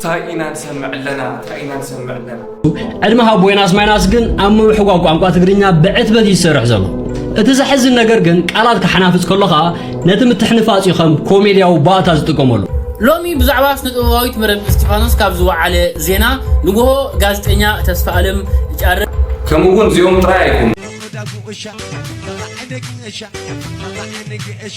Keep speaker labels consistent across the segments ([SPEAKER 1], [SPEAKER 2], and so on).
[SPEAKER 1] ታይ ኢና ንሰምዕ ኣለና ታይ ኢና ንሰምዕ ኣለና ዕድመ
[SPEAKER 2] ሃቦ ዮናስ ማይናስ ግን ኣብ ምምሕጓ ቋንቋ ትግርኛ ብዕትበት እዩ ዝሰርሕ ዘሎ እቲ ዘሕዝን ነገር ግን ቃላት ክሓናፍፅ ከሎ ከዓ ነቲ ምትሕንፋፅ እዩ ከም ኮሜድያዊ ባእታ ዝጥቀመሉ ሎሚ ብዛዕባ
[SPEAKER 3] ስነ ጥበባዊት መረብ እስጢፋኖስ ካብ ዝወዓለ ዜና ንግሆ ጋዜጠኛ ተስፋ ኣለም ጫረ ከምኡ እውን እዚኦም
[SPEAKER 1] ጥራይ ኣይኮኑ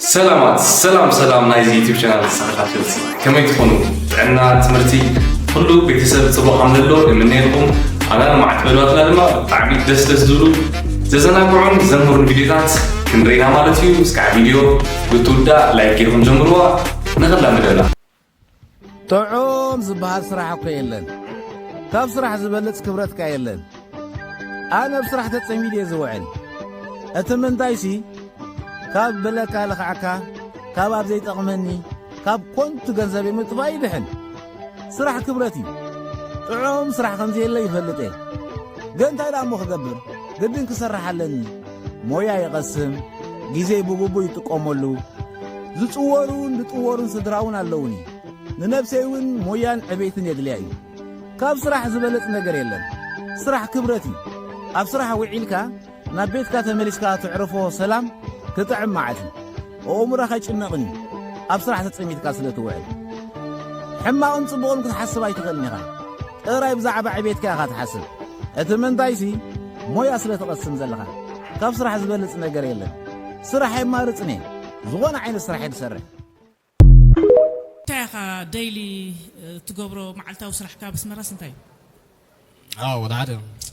[SPEAKER 1] ሰላማት ሰላም ሰላም ናይዚ ዩቲብ ቻናል ተኸታተልቲ ከመይ ትኾኑ ጥዕና ትምህርቲ ኩሉ ቤተሰብ ፅቡቅ ከምዘሎ የምነየልኩም ኣና ንማዕትበሏትና ድማ ብጣዕሚ ደስ ደስ ዝብሉ ዘዘናግዑን ዘምህሩን ቪዲዮታት ክንርኢና ማለት እዩ እስካዕ ቪዲዮ ብትውዳእ ላይክ ጌርኩም ጀምርዋ ንኽላምደና
[SPEAKER 4] ጥዑም ዝበሃል ስራሕ እኮ የለን ካብ ስራሕ ዝበልጽ ክብረት ከ የለን ኣነ ብ ስራሕ ተጸሚድ እየ ዝውዕል እቲ ምንታይሲ ካብ ብለካ ልኽዕካ ካብ ኣብ ዘይጠቕመኒ ካብ ኮንቱ ገንዘብ ምጥፋእ ይድሕን ስራሕ ክብረት እዩ ጥዑም ስራሕ ከምዘየለ ይፈልጥ እየ ግን እንታይ ደኣ እሞ ክገብር ግድን ክሰርሕ ኣለኒ ሞያ ይቐስም፣ ግዜ ብግቡእ ይጥቀመሉ፣ ዝጽወሩን ዝጥወሩን ስድራውን ኣለዉኒ። ንነብሰይ እውን ሞያን ዕቤትን የድልያ እዩ። ካብ ስራሕ ዝበለጽ ነገር የለን። ስራሕ ክብረት እዩ። ኣብ ስራሕ ውዒልካ ናብ ቤትካ ተመሊስካ ትዕርፎ ሰላም ክጥዕም መዓት እዩ። ኣእምሮኻ ይጭነቕን እዩ፣ ኣብ ስራሕ ተጸሚትካ ስለ ትውዕል። ሕማቕን ጽቡቕን ክትሓስብ ኣይትኽእልን ኢኻ። ጥራይ ብዛዕባ ዕቤትካ ኢኻ ትሓስብ፣ እቲ ምንታይሲ ሞያ ስለ ትቐስም ዘለኻ። ካብ ስራሕ ዝበልጽ ነገር የለን። ስራሕ ኣይማርጽን እየ፣ ዝኾነ ዓይነት ስራሕ እየ ዝሰርሕ። እንታይ
[SPEAKER 5] ኢኻ ደይሊ ትገብሮ፣ መዓልታዊ ስራሕካ ኣብ ኣስመራስ
[SPEAKER 6] እንታይ እዩ?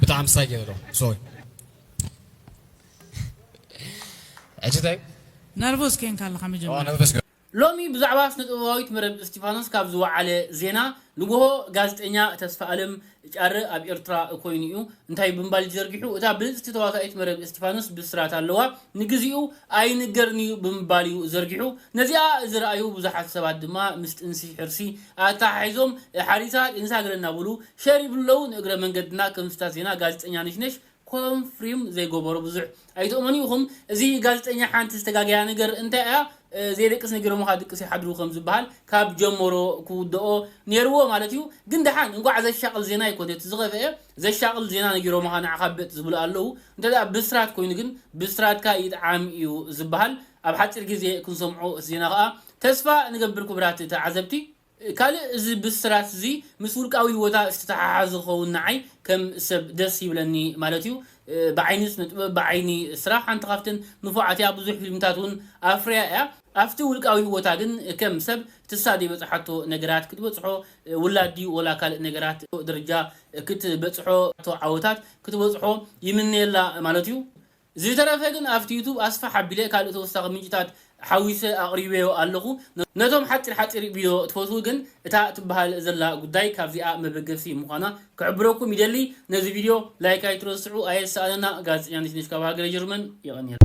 [SPEAKER 6] ብጣዕሚ ሳይ ገይረ ኣለኹ ሶሪ ሕጂ እንታይ ነርቮስ ኴንካ
[SPEAKER 5] ኣለኻ መጀመርያ ነርቨስ ሎሚ
[SPEAKER 6] ብዛዕባ
[SPEAKER 3] ስነጥበባዊት መረብ እስቲፋኖስ ካብ ዝወዓለ ዜና ንጎሆ ጋዜጠኛ ተስፋኣለም ጫረ ኣብ ኤርትራ ኮይኑ እዩ እንታይ ብምባል እዩ ዘርጊሑ እታ ብልጽቲ ተዋሳኢት መረብ እስቲፋኖስ ብስራት ኣለዋ ንግዜኡ ኣይንገርን እዩ ብምባል እዩ ዘርጊሑ። ነዚኣ ዝረኣዩ ብዙሓት ሰባት ድማ ምስ ጥንሲ ሕርሲ ኣተሓሒዞም ሓሪሳ ጢንሳ ገለ እናበሉ ሸር ይብሉ ኣለዉ። ንእግረ መንገድና ከም ስታት ዜና ጋዜጠኛ ነሽነሽ ኮንፍሪም ዘይገበሮ ብዙሕ ኣይትእመኑ ኢኹም። እዚ ጋዜጠኛ ሓንቲ ዝተጋገያ ነገር እንታይ እያ ዘይደቅስ ነጊሮምኻ ድቅስ ይሓድሩ ከም ዝበሃል ካብ ጀመሮ ክውደኦ ኔርዎ ማለት እዩ። ግን ደሓን እንቋዕ ዘሻቕል ዜና ኣይኮነን እቲ ዝኸፍኤ ዘሻቕል ዜና ነጊሮምኻ ንዓኻ ብጥ ዝብሉ ኣለዉ እንተ ብስራት ኮይኑ ግን ብስራትካ ይጥዓም እዩ ዝብሃል ኣብ ሓጺር ግዜ ክንሰምዖ እቲ ዜና ከኣ ተስፋ ንገብር ክብራት ተዓዘብቲ ካልእ እዚ ብስራት እዚ ምስ ውልቃዊ ሂወታ ዝተተሓሓዘ ክኸውን ንዓይ ከም ሰብ ደስ ይብለኒ ማለት እዩ ብዓይኒ ስነ ጥበብ ብዓይኒ ስራሕ ሓንቲ ካብተን ንፉዓት እያ ብዙሕ ፊልምታት ውን ኣፍርያ እያ ኣብቲ ውልቃዊ ህይወታ ግን ከም ሰብ ትሳ ዘይበጽሓቶ ነገራት ክትበጽሖ ውላድ ድዩ ወላ ካልእ ነገራት ደረጃ ክትበጽሖ ቶ ዓወታት ክትበጽሖ ይምነየላ ማለት እዩ። ዝተረፈ ግን ኣብቲ ዩቱብ ኣስፍሕ ኣቢለ ካልእ ተወሳኺ ምንጭታት ሓዊሰ ኣቕሪበዮ ኣለኹ። ነቶም ሓጺር ሓጺር ቪድዮ ትፈትዉ ግን እታ ትብሃል ዘላ ጉዳይ ካብዚኣ መበገሲ ምዃና ክሕብረኩም ይደሊ። ነዚ ቪድዮ ላይክ ኣይትረስዑ ኣየሳእነና። ጋዜጠኛ ነሽነሽ ካብ ሃገረ ጀርመን የቐንየልና።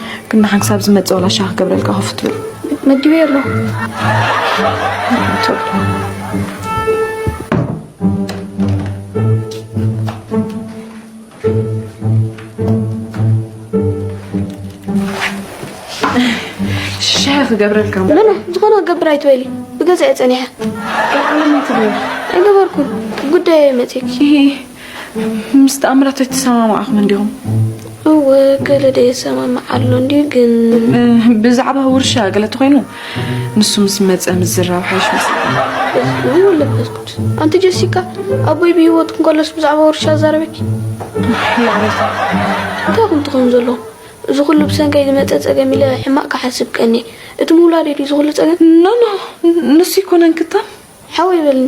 [SPEAKER 7] ግን ንሓን ክሳብ ዝመፅእ ዋላ ሻ ክገብረልካ ከፍ ትብል መዲበዮ ኣለኹ
[SPEAKER 8] ሻ
[SPEAKER 7] ክገብረልካ ምነ ዝኾነ ክገብር
[SPEAKER 8] ኣይትበሊ ብገዛእ ፀኒሐ
[SPEAKER 7] ኣይገበርኩን
[SPEAKER 8] ጉዳይ መፅክ
[SPEAKER 7] ምስ ተኣምራት ኣይተሰማማዕኹም እንዲኹም? እወ
[SPEAKER 8] ገለ ደ የሰማምዕ ኣሎ እንዲዩ ግን ብዛዕባ ውርሻ
[SPEAKER 7] ገለ ተኮይኑ ንሱ ምስ መፀ ምዝራብ ሓይሽ መስሉ ለበስኩት
[SPEAKER 8] ኣንቲ ጀሲካ ኣቦይ ብሂወት እንከሎስ ብዛዕባ ውርሻ ዛረበኪ
[SPEAKER 7] እንታይ ኩን
[SPEAKER 8] ትኾን ዘሎ እዚ ኩሉ ብሰንከይ ዝመፀ ፀገም ኢለ ሕማቅ ክሓስብ ቀኒ እቲ ምውላድ እዩ እዚ ኩሉ ፀገም ኖኖ
[SPEAKER 7] ንሱ ይኮነን ክታም ሓወይ በልኒ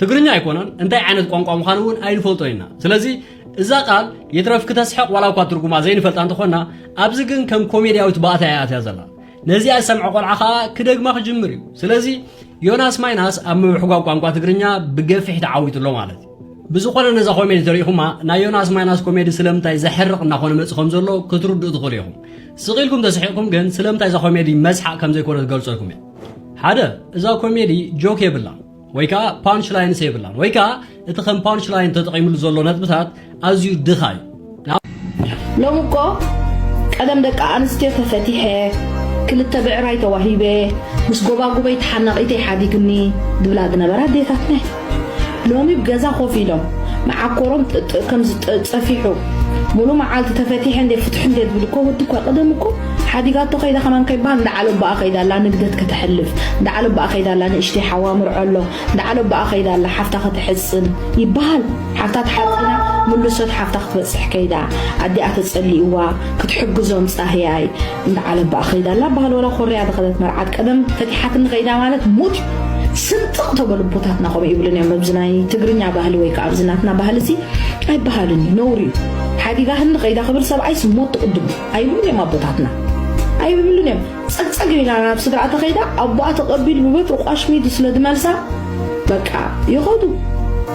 [SPEAKER 2] ትግርኛ ኣይኮነን እንታይ ዓይነት ቋንቋ ምዃኑ እውን ኣይንፈልጦ ኢና ስለዚ እዛ ቃል ይትረፍ ክተስሕቕ ዋላ እኳ ትርጉማ ዘይንፈልጣ እንተኾና ኣብዚ ግን ከም ኮሜድያዊት ባእታ እያ ኣትያ ዘላ ነዚኣ ዝሰምዐ ቆልዓ ከዓ ክደግማ ክጅምር እዩ ስለዚ ዮናስ ማይናስ ኣብ ምብሕጓግ ቋንቋ ትግርኛ ብገፊሕ ተዓዊቱ ኣሎ ማለት እዩ ብዝኾነ ነዛ ኮሜዲ ተሪኢኹማ ናይ ዮናስ ማይናስ ኮሜዲ ስለምንታይ ዘሕርቕ እናኾነ መፅእ ከም ዘሎ ክትርድኡ ትኽእሉ ኢኹም ስቕ ኢልኩም ተስሒቕኩም ግን ስለምንታይ እዛ ኮሜዲ መስሓቕ ከም ዘይኮነ ትገልፀልኩም እያ ሓደ እዛ ኮሜዲ ጆክ የብላን ወይ ከዓ ፓንች ላይንስ የብላን ወይ ከዓ እቲ ከም ፓንች ላይን ተጠቂምሉ ዘሎ ነጥብታት ኣዝዩ ድኻ እዩ
[SPEAKER 9] ሎሚ እኮ ቀደም ደቂ ኣንስትዮ ተፈቲሐ ክልተ ብዕራይ ተዋሂበ ምስ ጎባጉበይ ተሓናቒተይ ሓዲግኒ ዝብላ ዝነበራ ኣዴታትና ሎሚ ብ ገዛ ኮፍ ኢሎም መዓኮሮም ጥ ከም ዝጸፊሑ ሙሉ መዓልቲ ተፈቲሐ እንዴ ፍትሑ እንዴ ዝብል እኮ ወዲ እኳ ቀደም እኮ ሓዲጋቶ ከይዳ ከማን ከይባሃል እንዳ ዓሎቦኣ ከይዳ ኣላ ንግደት ከተሕልፍ እንዳ ዓሎቦኣ ከይዳ ኣላ ንእሽተይ ሓዋ ምርዖ ኣሎ እንዳ ዓሎቦኣ ከይዳ ኣላ ሓፍታ ከተሕጽን ይባሃል ሓፍታ ተሓጺና ምሉሶት ሓፍታ ክትበጽሕ ከይዳ ኣዲኣ ተጸሊእዋ ክትሕግዞም ጻህያይ እንዳ ዓለም ባኣ ከይዳ ኣላ ባሃል ወላ ኮርያ ዝከደት መርዓት ቀደም ፈቲሓትኒ ከይዳ ማለት ሙት እዩ ስንጥቅ ተበሉ ኣቦታትና ከምኡ ይብሉን እዮም ኣብዚ ናይ ትግርኛ ባህሊ ወይ ከኣ ኣብዚ ናትና ባህሊ እዚ ኣይባሃልን እዩ ነውሪ እዩ ሓዲጋህኒ ከይዳ ክብል ሰብኣይስ ሞት ትቅድሙ ኣይብሉን እዮም ኣቦታትና ኣይብሉን እዮም ጸግጸግ ኢላ ናብ ስድራ ተኸይዳ ኣቦኣ ተቀቢሉ ብበትሪ ቋሽሚዱ ስለ ድመልሳ በቃ ይኸዱ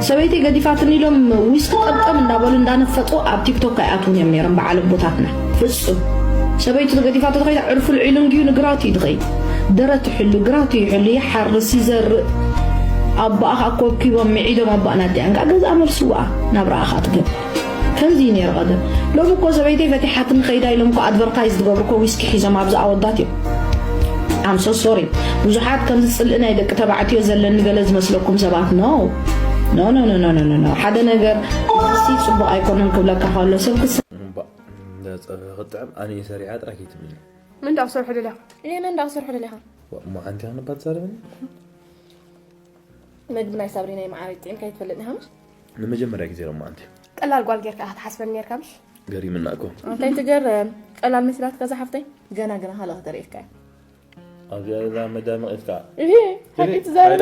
[SPEAKER 9] ሰበይቲ ገዲፋትኒ ኢሎም ዊስኪ ጠምጠም እንዳበሉ እንዳነፈጡ ኣብ ቲክቶክ ኣይኣትውን እዮም ነይሮም በዓል ኣቦታትና ፍጹም ሰበይቱ ተገዲፋቶ ተኸይዳ ዕርፉ ልዒሉ እንድዩ ንግራቱ እዩ ድኸይድ ደረት ይሕሉ ግራቱ ይሕሉ ይሓርስ ይዘርእ ኣቦኣ ከዓ ኮብኪቦም ምዒዶም ኣቦኣን ኣዲኣን ከዓ ገዝኣ መልስዋኣ ናብራኣ ከዓ ትገብር ከምዚ እዩ ነይሩ ቀደም ሎሚ እኮ ሰበይተይ ፈቲሓትኒ ከይዳ ኢሎም እኮ ኣድቨርታይዝ ዝገብሩ እኮ ዊስኪ ሒዞም ኣብዚ ኣወዳት እዮም ኣም ሶ ሶሪ ብዙሓት ከምዚ ፅልኢ ናይ ደቂ ተባዕትዮ ዘለኒ ገለ ዝመስለኩም ሰባት ኖ ኖ ኖ ኖ ኖ ሓደ ነገር ሲ ፅቡቅ ኣይኮነን ክብለካ ከሎ ሰብ እንዳ ፀብሒ
[SPEAKER 10] ክጥዕም ኣነ እየ ሰሪሓ ጥራሕ ከይትብልኒ መን ደኣ ክሰርሖ ደሊኻ
[SPEAKER 8] እየ መን ደኣ ክሰርሖ ደሊኻ እሞ ሓንቲ ክንባ
[SPEAKER 10] ትዛረበኒ
[SPEAKER 8] መግቢ ናይ ሳብሪ ናይ መዓረይ ጥዒምካ ከይትፈልጥ ኒኻ ምሽ ንመጀመርያ ግዜ
[SPEAKER 10] ሮማ ኣንቲ ቀላል ጓል ጌርካ ኢኻ
[SPEAKER 8] ትሓስበኒ ኔርካ ምሽ ገሪምና እኮ
[SPEAKER 10] እንታይ ትገርም
[SPEAKER 8] ቀላል መስላትካ ዝሓፍተይ ገና ገና ካልእ ክተርእየካ እያ ኣብዚኣ
[SPEAKER 10] ዘላ መዳም ኢፍካ ሓቂ
[SPEAKER 8] ትዛረበ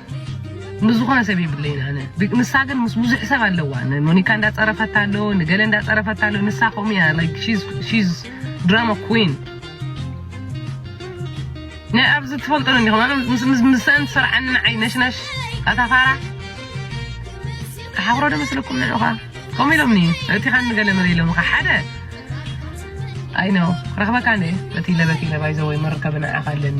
[SPEAKER 11] ምስ ዝኾነ ሰብ የብለይን ኣነ ንሳ ግን ምስ ብዙሕ ሰብ ኣለዋ ንሞኒካ እንዳፀረፈታ ኣሎ ንገለ እንዳፀረፈታ ኣሎ ንሳ ከምኡ እያ like she's she's drama queen ናይ ኣብዚ ትፈልጦ እንዲኹም ኣነ ምስ ምስ ምሰን ትሰርዓኒ ንዓይ ነሽነሽ ኣታ ፋራ ተሓኽሮ ዶ መስለኩም ንዑኻ ከምኡ ኢሎምኒ እቲ ኻን ንገለ መለ ኢሎምኻ ሓደ ኣይ ነው ረኽበካ እንደ እቲ ለበኪ ለባይ ዘወይ መርከብ ንዓኻ ኣለኒ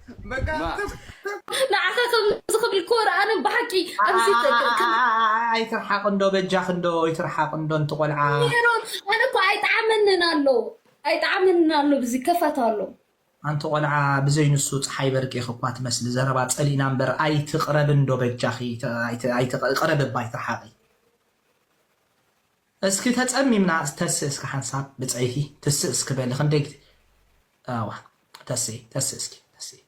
[SPEAKER 8] ንዓኻ ከምዚ ክብል ክወር ኣነ ብሓቂ ኣብዚ ኣይትርሓቕ
[SPEAKER 12] እንዶ በጃኽ እንዶ ኣይትርሓቕ እንዶ እንቲ ቆልዓ ሜሮን ኣነ እኮ
[SPEAKER 8] ኣይጠዓመንን ኣሎ ኣይጠዓመንን ኣሎ ብዚ ከፋት ኣሎ ኣንቲ ቆልዓ
[SPEAKER 12] ብዘይ ንሱ ፀሓይ በርቂኽ እኳ ትመስሊ ዘረባ ፀሊእና እምበር ኣይትቕረብ እንዶ በጃኺ ኣይትቕረብ እባ ኣይትርሓቒ እስኪ ተጸሚምና ተስእ እስኪ ሓንሳብ ብጸይቲ ትስእ እስኪ በሊ ክንደይ ግዜ እዋ ተስኢ ተስእ እስኪ ተስኢ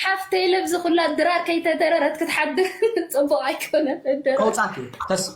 [SPEAKER 8] ሓፍተይ ለብዚ ኩላ ድራር ከይተደረረት ክትሓድር ፅቡቅ ኣይኮነን ከውፃት እዩ
[SPEAKER 12] ተስእ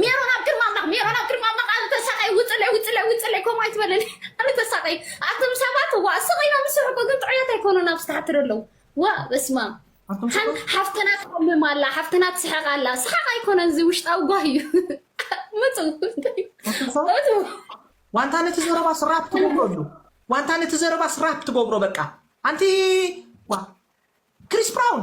[SPEAKER 8] ሜሮን ኣብ ቅድሚ ኣምላኽ ሜሮን ኣብ ቅድሚ ኣምላኽ ኣነ ተሳቀይ ውፅለይ ውፅለይ ውፅለይ ከምኡ ኣይትበለኒ ኣነ ተሳቀይ ኣቶም ሰባት ዋ ስቕ ኢሎም ዝስሑ እኮ ግን ጥዑያት ኣይኮኑን ኣብ ዝተሓትር ኣለዉ ዋ በስማ ሓፍትና ትሓምም ኣላ ሓፍትና ትስሕቕ ኣላ ስሓቕ ኣይኮነን እዚ ውሽጣዊ ጓህ እዩ ምፁ
[SPEAKER 12] ዋንታ ነቲ ዘረባ ስራፕ ትገብሮ ኣሉ ዋንታ ነቲ ዘረባ ስራፕ ትገብሮ በቃ ኣንቲ ክሪስ ብራውን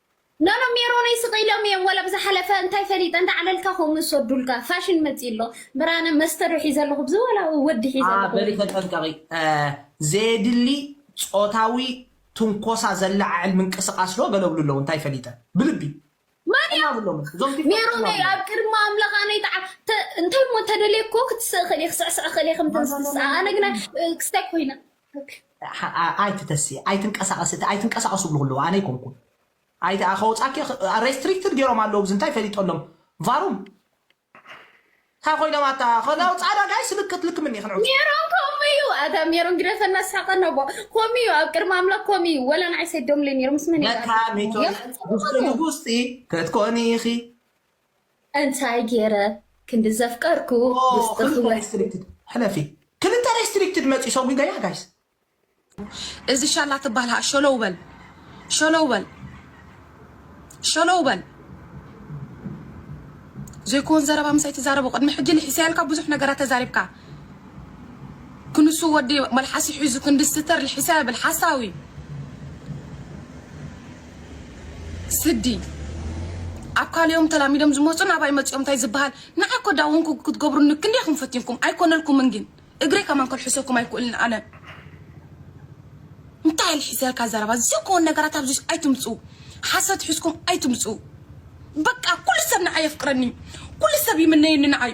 [SPEAKER 13] ኖኖ ሜሮነይ ስቅ ኢሎም እዮም ወላ ብዝሓለፈ እንታይ ፈሊጠ እንዳዕለልካ ከምኡ ዝሰዱልካ ፋሽን መጺኡ ኣሎ ብራነ መስተ ዶ ሒዘ ኣለኹ ብዚ ወላ ወዲ ሒዘ ኣለኹ በሊ ተጠንቀቂ
[SPEAKER 12] ዘየድሊ ጾታዊ ትንኮሳ ዘለዓዕል ምንቅስቃስ ዶ ገለ ብሉ ኣለዉ እንታይ ፈሊጠ ብልቢ መን ጥና እዮም
[SPEAKER 13] ብሎም እዞም ቲክቶክ ጥና ሜሮነይ ብሎም ኣብ ቅድሚ ኣምላኽ ኣነ ይትዓ ተ- እንታይ እሞ እንተደልየ እኮ ክትስእ እኽእል እየ ክስዕስዕ እኽእል እየ ከምተን ማና ዝክስኣ ማና ኣነ ግና ማና እ፣ ክስታይ ኮይነ
[SPEAKER 12] ኣይቲ ተሲ ኣይትንቀሳቀሲ እቲ ኣይትንቀሳቀሱ ዝብሉ ከለዉ ኣነ ኣይኮንኩን ኣይቲ ከወጻኪ ሬስትሪክትድ ገይሮም ኣለዉ ብዚ እንታይ ፈሊጦ ኣሎም ቫሩም እንታይ ኮይኖም ኣታ ከነውጻዳ ጋይ ስልክት ልክምኒ ክንዑ ሜሮን ከምኡ እዩ
[SPEAKER 13] ኣታ ሜሮን ግደፈና ሳቀ ነቦ ከምኡ እዩ ኣብ ቅድሚ ኣምላክ ከምኡ እዩ ወላ ንዓይ ሰዶምለይ ነይሩ ምስ መን እዩ ለካ
[SPEAKER 12] ሚቶ ጉስጢ ንጉስጢ ክትኮኒ ኢኺ እንታይ
[SPEAKER 13] ጌረ ክንዲ ዘፍቀርኩ ውስጢ ክወስድ።
[SPEAKER 12] ሕለፊ ክልተ ሬስትሪክትድ መጽዩ ሰጒገያ ጋይስ።
[SPEAKER 7] እዚ ሻላ ትባሃል ሃኣ ሸሎው በል ሸሎው በል ሸሎው በል ዘይኮን ዘረባ ምሳይ ትዛረቦ ቅድሚ ሕጂ ልሒሰያልካ ብዙሕ ነገራት ተዛሪብካ ክንሱ ወዲ መልሓሱ ሒዙ ክንዲ ስተር ልሒሰ ይብል ሓሳዊ ስዲ ኣብ ካልኦም ተላሚዶም ዝመጹ ናባይ መጺኦም እንታይ ዝበሃል ንዓይ እኮ ዳወንኩ ክትገብሩኒ ክንደይ ኢኹም ፈቲንኩም ኣይኮነልኩምን ግን እግረይ ከማን ከልሕሰኩም ኣይክእልን ኣነ እንታይ ልሒሰልካ ዘረባ ዘይኮን ነገራት ኣብዚ ኣይትምጹ ሓሰት ሒዝኩም ኣይትምጹ በቃ ኩሉ ሰብ ንዓይ የፍቅረኒ ኩሉ ሰብ ይምነየኒ ንዓይ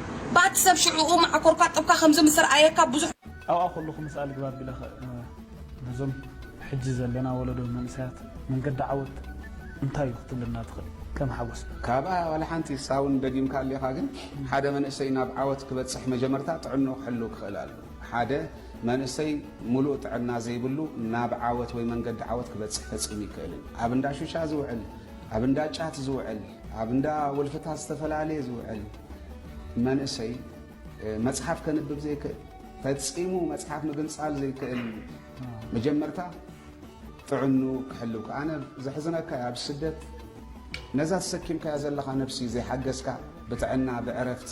[SPEAKER 7] ባቲ ሰብ ሽዑኡ ማዓኮርካ ጥብካ ከምዚ ምስ ርኣየካ ብዙሕ። ኣብኣ ከለኹ ምስኣ
[SPEAKER 14] ልግባ ቢለ ነዞም ሕጂ ዘለና ወለዶ መንእሰያት መንገዲ ዓወት እንታይ እዩ ክትብለና ትኽእል ከም ሓጎስ። ካብኣ ዋላ ሓንቲ
[SPEAKER 15] ሳውን ደጊምካ ኣሊኻ ግን ሓደ መንእሰይ ናብ ዓወት ክበጽሕ መጀመርታ ጥዕንኡ ክሕልው ክኽእል ኣሉ ሓደ መንእሰይ ሙሉእ ጥዕና ዘይብሉ ናብ ዓወት ወይ መንገዲ ዓወት ክበጽሕ ፈጺሙ ይክእልን ኣብ እንዳ ሹሻ ዝውዕል ኣብ እንዳ ጫት ዝውዕል ኣብ እንዳ ውልፍታት ዝተፈላለየ ዝውዕል መንእሰይ መጽሓፍ ከንብብ ዘይክእል ፈጺሙ መጽሓፍ ምግንጻል ዘይክእል መጀመርታ ጥዕኑ ክሕልው ከኣነ ዘሕዝነካ ኣብ ስደት ነዛ ተሰኪምካያ ዘለኻ ነብሲ ዘይሓገዝካ ብጥዕና ብዕረፍቲ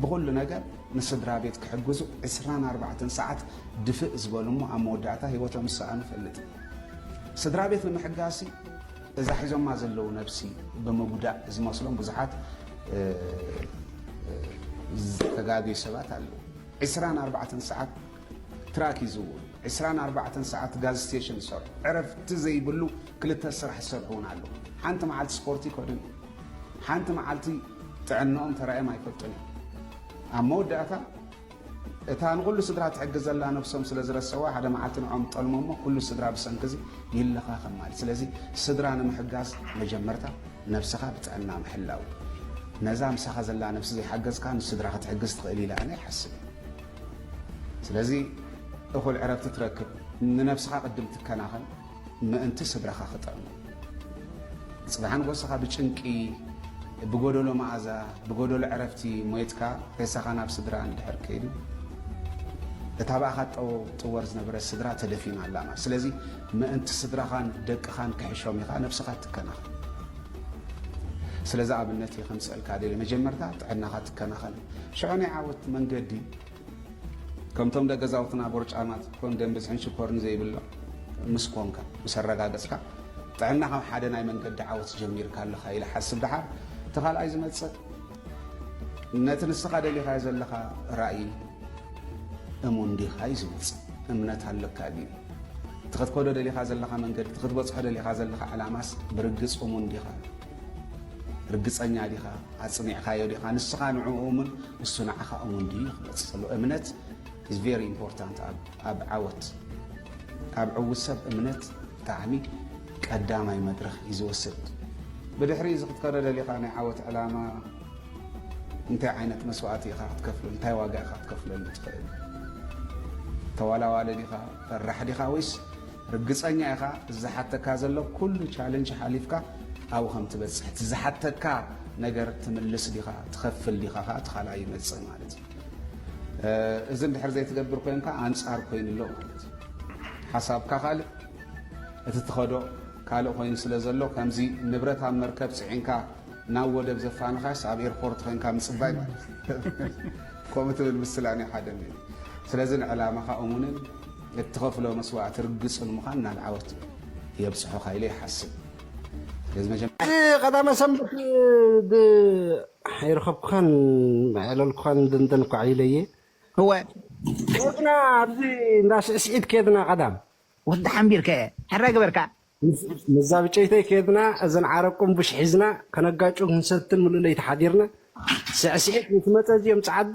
[SPEAKER 15] ብኹሉ ነገር ንስድራ ቤት ክሕግዙ 24 ሰዓት ድፍእ ዝበሉ እሞ ኣብ መወዳእታ ሂወቶም ዝሰኣኑ ፈልጥ ስድራ ቤት ንምሕጋሲ እዛ ሒዞማ ዘለዉ ነብሲ ብምጉዳእ ዝመስሎም ብዙሓት ዝተጋገዩ ሰባት ኣለዉ። ዕስራን ኣርባዕተን ሰዓት ትራክ ይዝውሩ፣ ዕስራን ኣርባዕተን ሰዓት ጋዝ ስቴሽን ይሰርሑ፣ ዕረፍቲ ዘይብሉ ክልተ ስራሕ ዝሰርሑ እውን ኣለዉ። ሓንቲ መዓልቲ ስፖርት ይከዱን እዮም፣ ሓንቲ መዓልቲ ጥዕንኦም ተራእዮም ኣይፈልጡን እዮም። ኣብ መወዳእታ እታ ንኹሉ ስድራ ትሕግዝ ዘላ ነብሶም ስለ ዝረሰዋ ሓደ መዓልቲ ንዖም ጠልሞ እሞ ኩሉ ስድራ ብሰንኪ እዚ ይለኻኸም ማለት ስለዚ ስድራ ንምሕጋዝ መጀመርታ ነብስኻ ብጥዕና ምሕላው ነዛ ምሳኻ ዘላ ነብሲ ዘይሓገዝካ ንስድራ ክትሕግዝ ትኽእል ኢለ ኣነ ይሓስብ ስለዚ እኹል ዕረፍቲ ትረክብ ንነብስኻ ቅድም ትከናኸን ምእንቲ ስድራኻ ክጠዕሙ ጽባሕ ንጎሰኻ ብጭንቂ ብጎደሎ መኣዛ ብጎደሎ ዕረፍቲ ሞይትካ ሬሳኻ ናብ ስድራ እንድሕር ከይዱ እታ ብኣኻ ጠው ጥወር ዝነበረት ስድራ ተደፊና ኣላ ማለት ስለዚ ምእንቲ ስድራኻን ደቅኻን ክሕሾም ኢኻ ነብስኻ ትከናኸን ስለዚ ኣብነት እየ ከምፅእልካ ደለ መጀመርታ ጥዕናኻ ትከናኸን ሽዑ ናይ ዓወት መንገዲ ከምቶም ደገዛውትና ቦርጫማት ክትኮን ደም ብዝሕን ሽኮርን ዘይብሎም ምስ ኮንካ ምስ ኣረጋገጽካ ጥዕና ካብ ሓደ ናይ መንገዲ ዓወት ጀሚርካ ኣለኻ ኢለ ሓስብ ደሓር እቲ ካልኣይ ዝመጽእ ነቲ ንስኻ ደሊኻዮ ዘለኻ ራእይ እሙን ዲኻ እዩ ዝመጽእ እምነት ኣለካ ድዩ እቲ ክትከዶ ደሊኻ ዘለኻ መንገዲ እቲ ክትበጽሖ ደሊኻ ዘለኻ ዕላማስ ብርግጽ እሙን ዲኻ ርግጸኛ ዲኻ ኣጽኒዕካዮ ዲኻ ንስኻ ንዕኡ እሙን እሱ ንዓኻ እሙን ድዩ ክመጽእ ከሎ እምነት is very important ኣብ ዓወት ኣብ ዕውት ሰብ እምነት ብጣዕሚ ቀዳማይ መድረኽ እዩ ዝወስድ ብድሕሪ እዚ ክትከዶ ደሊኻ ናይ ዓወት ዕላማ እንታይ ዓይነት መስዋእቲ ኢኻ ክትከፍለሉ እንታይ ዋጋ ኢኻ ክትከፍለሉ ትኽእል ተዋላዋሊ ዲኻ ፈራሕ ዲኻ ወይስ ርግጸኛ ኢኻ እዚ ዝሓተካ ዘሎ ኩሉ ቻለንጅ ሓሊፍካ ኣብኡ ከም ትበጽሕ እቲ ዝሓተካ ነገር ትምልስ ዲኻ ትኸፍል ዲኻ ከኣ እቲ ካልኣይ ይመጽእ ማለት እዩ እዚ እንድሕር ዘይትገብር ኮንካ ኣንጻር ኮይኑ ኣሎ ማለት እዩ ሓሳብካ ካልእ እቲ ትኸዶ ካልእ ኮይኑ ስለ ዘሎ ከምዚ ንብረት ኣብ መርከብ ፅዒንካ ናብ ወደብ ዘፋንኻስ ኣብ ኤርፖርት ኮንካ ምፅባይ ማለት ከምኡ ትብል ምስላ ናይ ሓደ ስለዚ ንዕላማኻ እሙንን እትኸፍሎ መስዋእቲ ርግፅ ንምዃን ናብ ዓወት የብፅሑኻ ኢለ ይሓስብ። ብቀዳመ
[SPEAKER 16] ሰንበት ብ ኣይረኸብኩኻን ኣየዕለልኩኻን ደንደን ኳዕ ኢለ እየ። እወ።
[SPEAKER 12] ኬድና
[SPEAKER 16] ኣብዚ እንዳ ስዕስዒት ኬድና ቀዳም። ወዲ ሓምቢር
[SPEAKER 12] ከ ሕራይ ገበርካ? ምስዛ
[SPEAKER 16] ብጨይተይ ኬድና እዘን ዓረብ ቁምቡሽ ሒዝና ከነጋጩ ክንሰትን ምሉእ ለይቲ ሓዲርና። ስዕስዒት ምስ መፀ እዚኦም ፀዓዱ።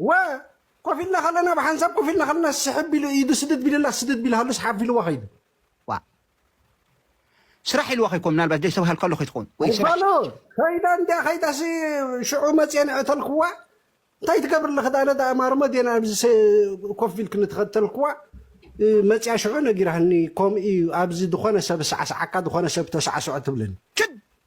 [SPEAKER 12] ወ፣
[SPEAKER 16] ኮፍ ኢልና ከለና ብሓንሳብ ኮፍ ኢልና ከለና ስሕብ ቢሉ ኢዱ ስድድ ቢለላ ስድድ ቢልሃሉ ስሓፍ ኢልዋ ከይዱ።
[SPEAKER 12] ዋእ ስራሕ ኢልዋ ከይኮን ምናልባት ደይ ዝተባሃልካ ኣሎ ከይትኸውን ወይ ስራሕ ባሎ
[SPEAKER 16] ከይዳ እንዲያ ከይዳሲ ሽዑ መፅየ ንዕተልክዋ እንታይ ትገብር ኣለኺ ዳነ ዳኣ ማርሞ ዴና ኣብዚ ሰ- ኮፍ ኢልክ ንተኸተልክዋ እ፣ መፅያ ሽዑ ነጊራህኒ ከምኡ እዩ ኣብዚ ዝኾነ ሰብ ሳዕሳዓካ ዝኾነ ሰብ ተሳዕስዖ ትብለኒ ክድ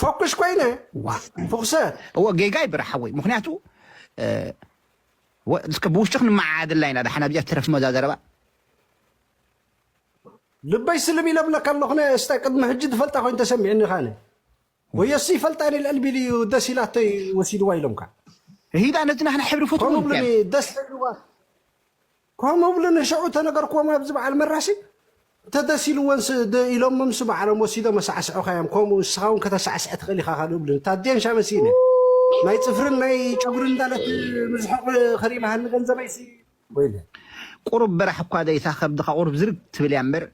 [SPEAKER 16] ፈኩሽ ኮይነ ፍኩሰ እዎ ጌጋ ይብራ
[SPEAKER 12] ሓወይ ምክንያቱ እስከ ብውሽጢ ክንመዓዓደላ ኢና ዳሓን ኣብዚኣ ትረፍ መዛ ዘረባ
[SPEAKER 16] ልበይ ስልም ኢለ ብለካ ኣለኹነ እስተ ቅድሚ ሕጂ ዝፈልጣ ኮይኑ ተሰሚዕኒ ካነ ወየሲ ይፈልጣኒ ልዕል ቢሉ እዩ ደስ ኢላቶ ወሲድዋ ኢሎምካ ሂዳ ነቲ
[SPEAKER 12] ናህና ሕብሪ ፍትሩ ደስ
[SPEAKER 16] ከምኡ እብሉ ንሸዑ ተነገርክዎም ኣብዚ በዓል መራሲ ተደሲልወንስ ድ ኢሎምምስ በዓሎም ወሲዶም ኣሳዕስዑኻዮም ከምኡ ንስኻ እውን ከተሳዕስዕ ትኽእል ኢኻ ካልኡ እብሉ እታ ኣዴን ሻመሲን እየን ናይ ፅፍርን ናይ ጨጉርን እንዳለት ምዝሑቕ ኸሪመሃኒ ንገንዘበይሲ ወይለ ቁሩብ በራሕ
[SPEAKER 12] እኳ ደይታ ከብድኻ ቁሩብ ዝርግ ትብል እያ እምበር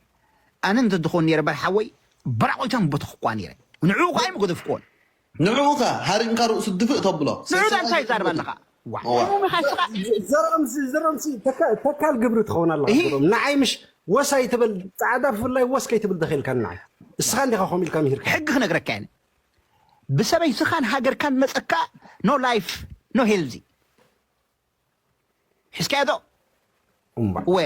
[SPEAKER 12] ኣነ እንተትኾን ነይረ በል ሓወይ በራቑተን ቦተኽኳ ነይረ ንዕኡ ከኣ ኣይምገደፍክዎን ንዕኡ ከ
[SPEAKER 17] ሃሪምካ ርእሱ ድፍእ ተብሎ። ንዑ ዳኣ እንታይ ትዛረብ
[SPEAKER 12] ኣለኻ ዋእ
[SPEAKER 16] ሕሙም ኢኻ እስኻ። ዘርኦምሲ ዘርኦምሲ ተካል ግብሪ ትኸውን ኣለኻ ዘርኦም ንዓይ ምሽ ወስ ኣይትበል ጻዕዳ ብፍላይ ወስ ከይትብል ተኺኢልካኒ ንዓይ እስኻ እንዲኻ ከምኡ ኢልካ ምሂርካኒ። ሕጊ ክነግረካ እየ
[SPEAKER 12] ብሰበይትኻን ሃገርካን መጸካ ኖ ላይፍ ኖ ሄልዚ። ሒዝካዮዶ እምባእ እወ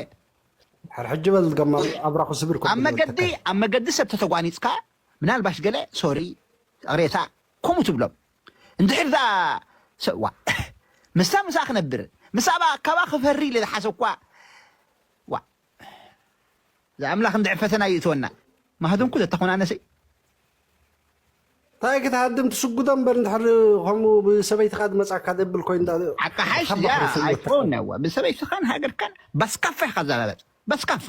[SPEAKER 12] ድሕር
[SPEAKER 16] ሕጂ በል ገማ ኣብራኹ ስብር ኮ ኣብ ብሎ መገዲ ተካይ ኣብ መገዲ
[SPEAKER 12] ሰብ ተተጓኒጽካ ምናልባሽ ገለ ሶሪ ቅሬታ ከምኡ ትብሎም እንድሕር እዛ ሰ- ዋ ምስታ ምሳ ክነብር ምስ ኣባ ካባ ክፈሪ ኢለ ዝሓሰብኳ ዋ እዛ ኣምላኽ እንድዒ ፈተና ይእትወና ማህድንኩ ዘተኾናነሲ። ታይ
[SPEAKER 16] ክትሃድም ትስጉዶ እምበር እንድሕር ከምኡ ብሰበይትካ ድመፃካ ደብል ኮይንዳ ኣቃሓሽ እዚኣ ሓባክሪ ፍልጠት
[SPEAKER 12] ኣይኮን ትከውን። ነዋ ብሰበይትካን ሃገርካን ባስካፋ ኢካ ዛረበፅ ባስካፋ።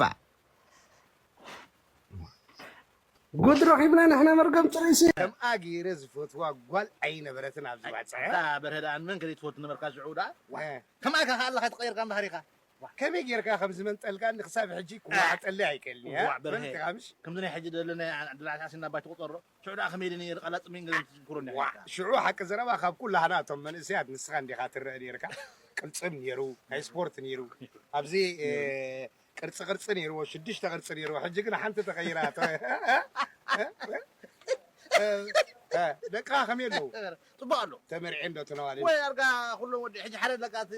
[SPEAKER 16] ጉድ ረኺብና ንሕና መርገም ፅሩይ ሲ። ከምኣ ገይረ
[SPEAKER 10] ዝፈትዋ ጓል ኣይነበረትን ኣብዚ ባጽዐ። ኣታ በርሀ ደኣ ንመን ከ ዘይትፈቱ ነበርካ ሽዑ ደኣ ዋእ ከምኣካ ከ ኣለካ ተቀይርካ እምበሃር ኢካ ዋእ ከመይ ጌርካ ከም ዝመንጠልካኒ ክሳብ ሕጂ ክወሓጠለይ ኣይክእልን እየ ዋእ በርሀ ፈልጥካ ምሽ ከምዚ ናይ ሕጂ ደለ ናይ ዓድ ዓዲ ኣስኒ ኣባይ ትቁጸሮ ሽዑ ደኣ ከመይ ኢለ ነይረ ቃላት ጽምኢን ገለን ትዝክሮኒ ዋእ ኔርካ። ሽዑ ሓቂ ዘረባ ካብ ኩላህና እቶም መንእሰያት ንስኻ እንዲኻ ትረኣ ኔርካ ቅልጽም ኔሩ ናይ ስፖርት ኔሩ ኣብዚ ቅርጺ ቅርጺ ኔርዎ ሽዱሽተ ቅርጺ ኔርዎ ሕጂ ግን ሓንቲ ተቀይራ እቶ ደቅኻ ከመይ ኣለዉ ጽቡቅ ኣሎ ተመርዕየ እንዶ ተነዋል ወይ ኣርጋ ኩሎም ወዲ ሕጂ ሓደ ለቃ እቲ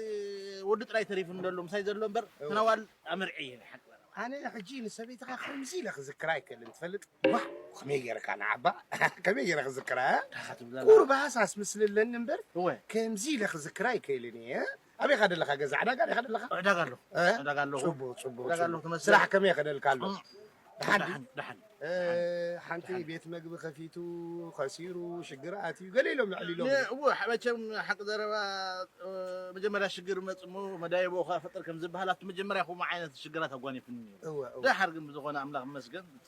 [SPEAKER 10] ወዲ ጥራይ ተሪፉ ንደሎ ምሳይ ዘሎ እምበር ተነዋል ኣመርዕየ ናይ ሓቂ ኣነ ሕጂ ንሰበይትኻ ከምዚ ኢለ ክዝክራ ኣይክእልን ትፈልጥ ዋእ ከመይ ጌርካ ንዓባ ከመይ ጌረ ክዝክራ ቁሩብ ሃሳስ ምስሊ ኣለኒ እምበር ከምዚ ኢለ ክዝክራ ኣይክእልን እየ ኣበይ ኸ ደለኻ ገዛ ዕዳጋ ዲኻ ደለኻ? ዕዳጋ ኣለኹ
[SPEAKER 18] ዕዳጋ ኣለኹ። ጽቡቕ ጽቡቕ ዕዳጋ ኣለኹ ጽቡቕ።
[SPEAKER 10] ተመስገን። ስራሕ
[SPEAKER 18] ከመይ ኸደልካ ኣሎ?
[SPEAKER 10] ደሓን ድዩ? ደሓን
[SPEAKER 18] ደሓን። እ፣
[SPEAKER 10] ሓንቲ ቤት መግቢ ከፊቱ ኸሲሩ ሽግር ኣትዩ ገለ ኢሎም ልዕል ኢሎም እዮም። እወ ሐ- መቸም
[SPEAKER 18] ሓቂ ዘረባ እ፣ መጀመርያ ሽግር ይመጽእ እሞ መዳይቦ ኸኣ ፍጥር ከም ዝበሃል ኣብቲ መጀመርያ ከምኡ ዓይነት ሽግራት ኣጓኒፉኒ ነይሩ። እወ እወ። ደሓር ግን ብዝኾነ ኣምላኽ ይመስገን እቲ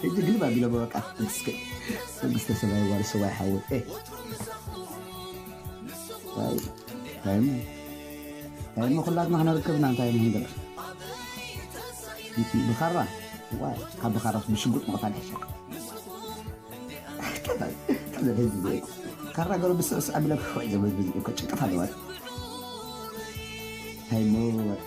[SPEAKER 19] ሕጂ ግልብ ኣቢሎሞ በቃ ተመስገን መንግስተ ሰማይ የዋርሶ ዋይ ሓወይ ታይሞ ታይሞ ኩላትና ክነርከብና እንታይ ምንገር ብኻራ ዋይ ካብ ብኻራ ብሽጉጥ ምቕታል ይሕሸካ ዘለ ህዝቢ ዘይ ካራ ገሩ ብስዕስ ኣቢለ ክሕወይ ዘመዝብዝ ከጭቅት ኣለዋት ታይሞ ወጣ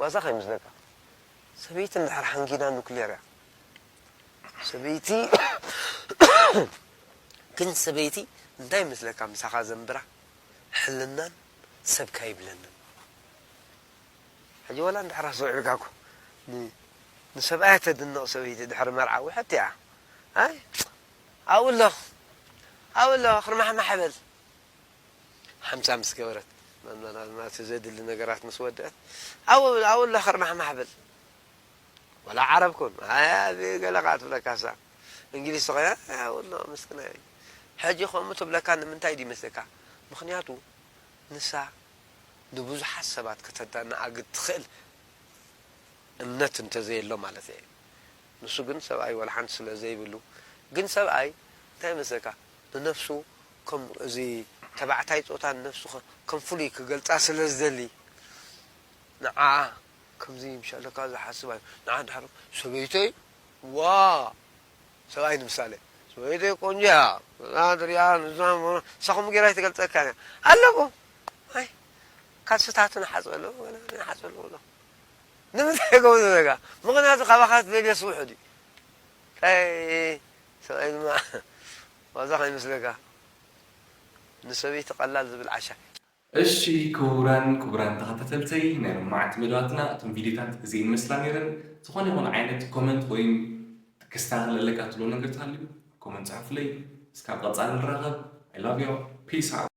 [SPEAKER 20] ዋዛ ከይመስለካ ሰበይቲ እንድሕር ሓንጊዳ ኑክሌር እያ ሰበይቲ ግን ሰበይቲ እንታይ ይመስለካ ምሳኻ ዘንብራ ሕልናን ሰብካ ይብለንን ሕጂ ዋላ እንድሕር ኣስተውዒልካ እኮ ንሰብኣያ ተድንቕ ሰበይቲ ድሕሪ መርዓ ውሕጥቲ እያ ኣይ ኣብኡ ኣሎ ኣብኡ ኣሎ ክርማሕማሕ በል ሓምሳ ምስ ገበረት መመላልና እቲ ዘድሊ ነገራት ምስ ወደእት ዓው ብል ዓው እላ ከርማሕማሕ ብል ወላ ዓረብ ኩን ኣዚ ገለ ከኣ ትብለካ እሳ እንግሊዝ ተኮይና ዓው እላ ምስክናይ ሕጂ ከምኡ ትብለካ ንምንታይ ድዩ መስለካ ምክንያቱ ንሳ ንብዙሓት ሰባት ከተዳናኣግድ ትክእል እምነት እንተዘየሎ ማለት እየ ንሱ ግን ሰብኣይ ወላ ሓንቲ ስለ ዘይብሉ ግን ሰብኣይ እንታይ መስለካ ንነፍሱ ከም እዚ ተባዕታይ ጾታ ንነፍሱ ከም ፍሉይ ክገልጻ ስለ ዝደሊ ንዓኣ ከምዚ ምሽ ኣለካ ዝሓስባ እዩ ንዓ ድሓር ሰበይተይ ዋእ ሰብኣይ ንምሳሌ ሰበይተይ ቆንጆ እያ እዛ ትሪኣ ንሳ ንሳ ከምኡ ጌራ ኣይትገልጸካን እያ ኣለዎ ኣይ ካልስታቱ ንሓጽበ ኣለዎ ንሓጽበ ኣለዎ ኣሎ ንምንታይ ከምኡ ዝብለካ ምኽንያቱ ካባኻ ዝደልዮስ ውሑድ እዩ ሰብኣይ ድማ ዋዛ ከይመስለካ ንሰበይቲ ቀላል ዝብል ዓሻ። እሺ
[SPEAKER 1] ክቡራን ክቡራን ተኸታተልተይ ናይ ሎማዓንቲ መደባትና እቶም ቪድዮታት እዚኤን ይመስላ ነይረን ዝኾነ ይኹን ዓይነት ኮመንት ወይም ክስታኻኸል ኣለካ ትብሎ ነገር ተሃልዩ ኮመንት ጸሑፍለይ እስካብ ቐጻሊ ንራኸብ I love you peace out።